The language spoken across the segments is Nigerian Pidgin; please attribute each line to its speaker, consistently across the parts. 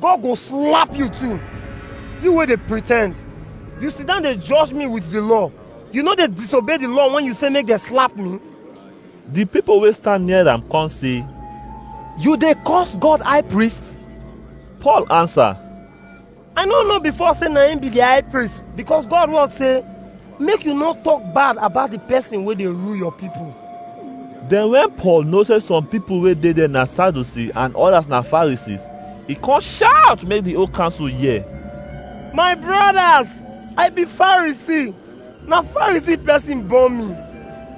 Speaker 1: God go slap you too. You wey dey pretend. You sit down dey judge me with the law. You no dey disobey the law when you say make dem slap me. The people wey stand near am come say, You dey curse God high priest? Paul answer, I no know before say na him be the high priest because God word say Make you no talk bad about the person wey dey rule your people. Then when Paul know say some people wey dey there na Sadducee and others na Pharisees, he come shout make the whole council hear. My brothers, I be Pharisee. Na Pharisee person born me.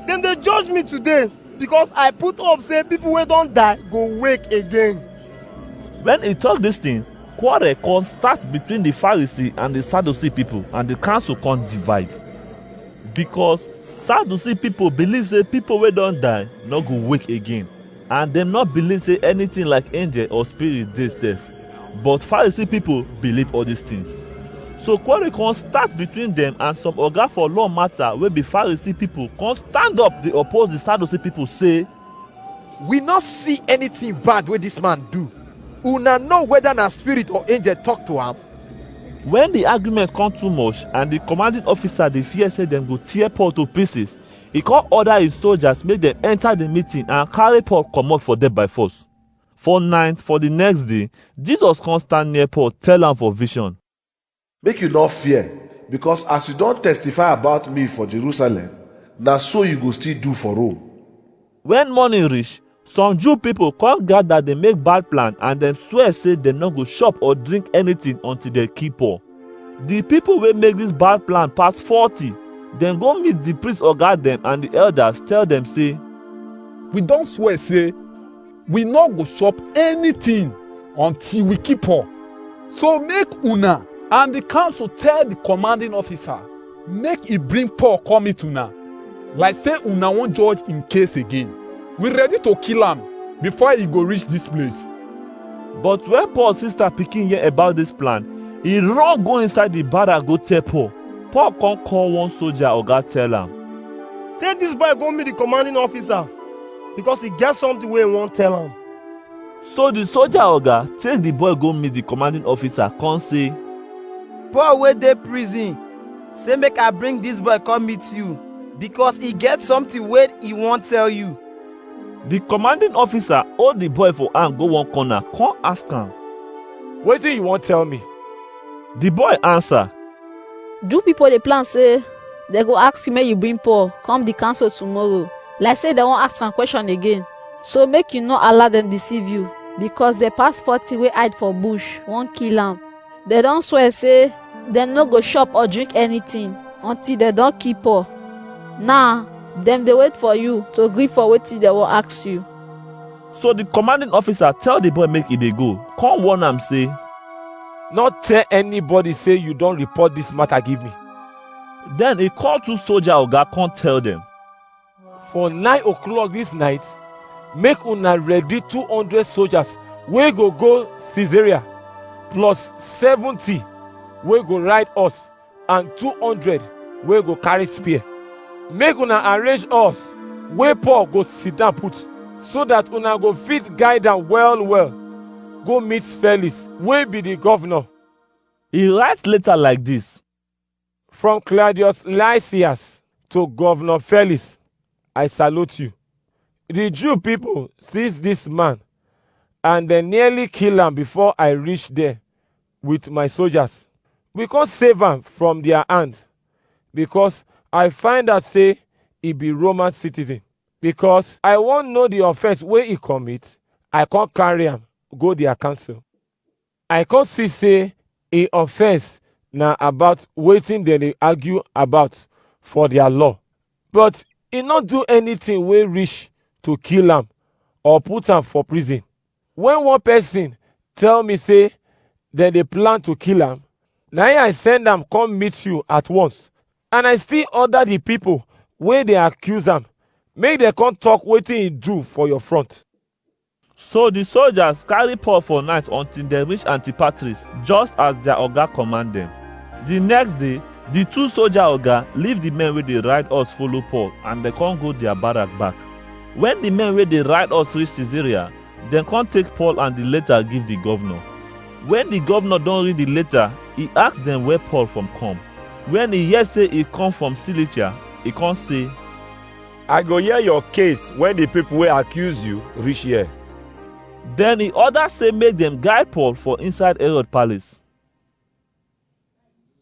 Speaker 1: Dem dey judge me today because I put hope say people wey don die go wake again. When he talk this thing, Quarrel come start between the Pharisee and the Sadducee people and the council come divide. Because Sadducee people believe say people wey don die no go wake again and dem no believe say anything like angel or spirit dey sef. But Pharisee people believe all these things. So quarrel come start between them and some oga for law matter wey be Pharisee people come stand up dey oppose the Sadducee people say we no see anything bad wey dis man do una know whether na spirit or angel talk to am When the argument come too much and the commanding officer dey fear say dem go tear Paul to pieces, he come order his soldiers make dem enter the meeting and carry Paul comot for there by force. For night for the next day, Jesus come stand near Paul tell am for vision. Make you no fear, because as you don testify about me for Jerusalem, na so you go still do for Rome. When morning reach, some Jew people come gather dey make bad plan and dem swear say dem no go chop or drink anything until dem kill Paul. The people wey make this bad plan pass forty. Dem go meet the priest oga dem and the elders tell dem say, We don swear say we no go chop anything until we keep her. So make una and the council tell the commanding officer, make he bring Paul come meet una. Like say una wan judge him case again. We ready to kill am before he go reach this place. But when Paul sister pikin hear about this plan, he run go inside the barrack go tell Paul. Paul come call one soldier oga tell am. Take this boy go meet the commanding officer. because e get something wey e wan tell am. So the soldier oga take the boy go meet the commanding officer come say, Paul wey dey prison say make I bring dis boy come meet you because e get something wey e wan tell you. The commanding officer hold the boy for hand go one corner come ask am. Wetin you wan tell me? The boy answer, Jew people dey plan say they go ask you make you bring Paul come the council tomorrow. Like say they wan ask am question again. So make you no allow them deceive you because the past forty wey hide for bush wan kill am. They don swear say dem no go chop or drink anything until dem don kill Paul. Now dem dey wait for you to gree for wetin dem wan ask you. So the commanding officer tell the boy make e dey go, come warn am say, No tell anybody say you don report this matter give me. Then he call two soldier oga come tell them, For nine o'clock this night, make una ready two hundred soldiers wey go go Caesarea, plus seventy wey go ride horse and two hundred wey go carry spear make una arrange us wey paul go sit down put so that una go fit guide am well well go meet felix wey be the governor He write later like this. from claudius lysias to governor felix i salute you the jew people seize this man and dem nearly kill am before i reach there with my soldiers. We come save am from their hand because I find out say he be Roman citizen. Because I wan know the offense wey he commit, I come carry am go their council. I come see say him offense na about wetin dem dey argue about for their law. But he no do anything wey reach to kill am or put am for prison. When one person tell me say dem dey plan to kill am, na him I send am come meet you at once. And I still order the people wey dey accuse am make dem come talk wetin he do for your front. So the soldiers carry Paul for night until dem reach Antipatris, just as their oga command them. The next day, the two soldier oga leave the men wey dey ride us follow Paul and dem come go their barrack back. When the men wey dey ride us reach Caesarea, dem come take Paul and the letter give the governor. When the governor don read the letter, he ask dem where Paul from come. When he hear say he come from Cilicia, he come say, I go hear your case when the people wey accuse you reach here. Then he order say make dem guide Paul for inside Herod palace.